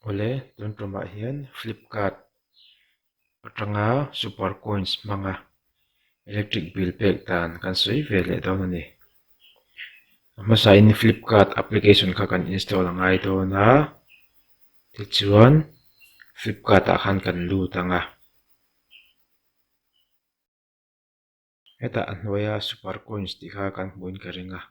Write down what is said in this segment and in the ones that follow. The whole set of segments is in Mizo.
awle tun tumah hian flipkart atanga super coins hmanga electric bill pek dan kan sawi ve leh dawn a ni a hmasahin flipkart application kha kan install a ngai dawn a tichuan flipkart ah khan kan lut ang a. Hetah a hnuaia super coins tih kha kan hmuhin ka ring a,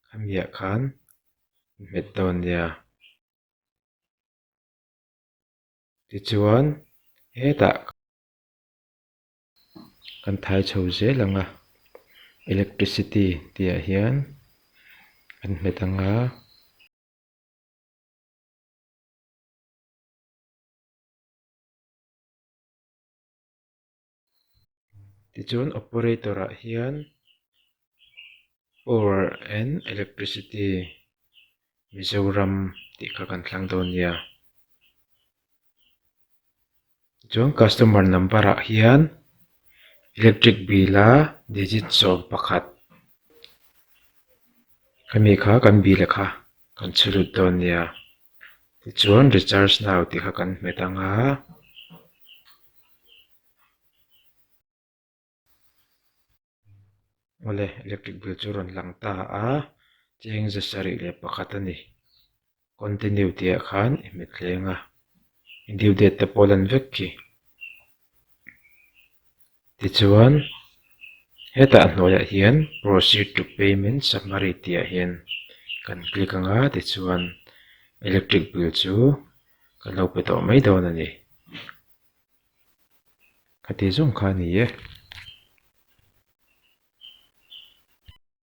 khamiah khan in hmet dawn nia. Tichuan hetah kan thai chho zel ang a, electricity tih ah hian kan hmet ang a. Tichuan operator ah hian power and electricity Mizoram tih kha kan thlang dawn nia chuan customer number ah hian electric bill a digit sawm pakhat hemi kha kan bill leh kha kan chhe lut dawn nia. Tichuan, Recharge Now tih kha kan hmet ang a. Awle, electric bill chu rawn lang ta a. Cheng ze sarih leh pakhat a ni. Continue tih ah khan i hmet thleng a. I due date te pawh a lan vek khi. Tichuan hetah hnuaiah hian proceed to payment summary tih ah hian kan click ang a tichuan electric bill chu kan lo pe tawh mai dawn a ni khati zawng kha a ni e.